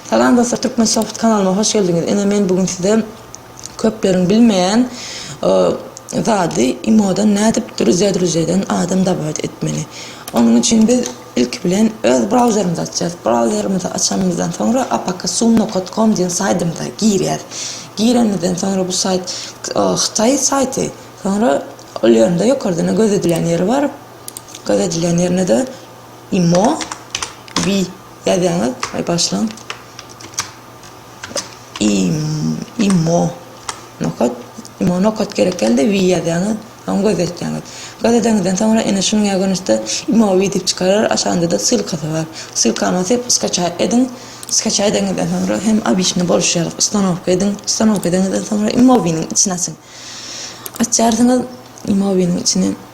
Salam dostlar Turkmensoft kanalyma hoş geldiňiz ine men bugün size köpleriň bilmeýän zady imodan nädip druzýadruzýadan adam dawaet etmeli onuň üçin biz ilki bilen öz brauzerimizi açýas brauzerimizi açanymyzdan soňra apksunnokotkom diýen saýdymyza girýäs girenimizden soňra bu saýt hytaý saýty soňra ol ýerinde ýokardan gözedilen ýeri bar gözedilen ýerinde de imo bi Ýazýaňyz we başlygyň imo nokat imo nokat gerek däldi we ýazýaňyz soň gözetýäňiz. Gözedeňizden soňra ene şunuň ýa görnüşde imo we diýip çykarar aşagynda-da ssylkasy bar. Ssylkany basyp skaçaý ediň. Skaçaý edeňizden soňra hem obyçny boluşýar ustanowka ediň. Ustanowka edeňizden soňra imo winiň içini açyň. Açýarsyňyz imo winiň içini.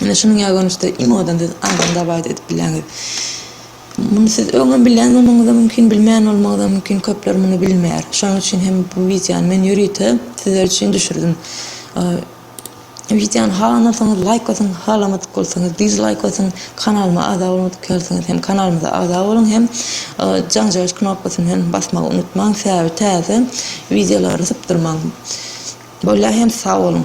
Ine, şunuň ýaly görnüşde iň owdan siz aýdym dabaýda edip bilýäňiz. Muny siz öňem bilýän bolmagyňyz-da mümkin, bilmeýän bolmagyňyz-da mümkin, köpler muny bilmeýär. Şonuň üçin hem bu wideony men ýörite sizler üçin düşürdim. Wideony halamasaňyz, laýk basyň, halamadyk bolsaňyz, dislaýk basyň, kanalyma agza bolmadyk ýalysyňyz hem kanalymyza agza boluň hem jaňjaýyş knopkasyny hem basmagy unutmaň, sebäbi täze wideolary sypdyrmaň. Bolýar hem sag boluň.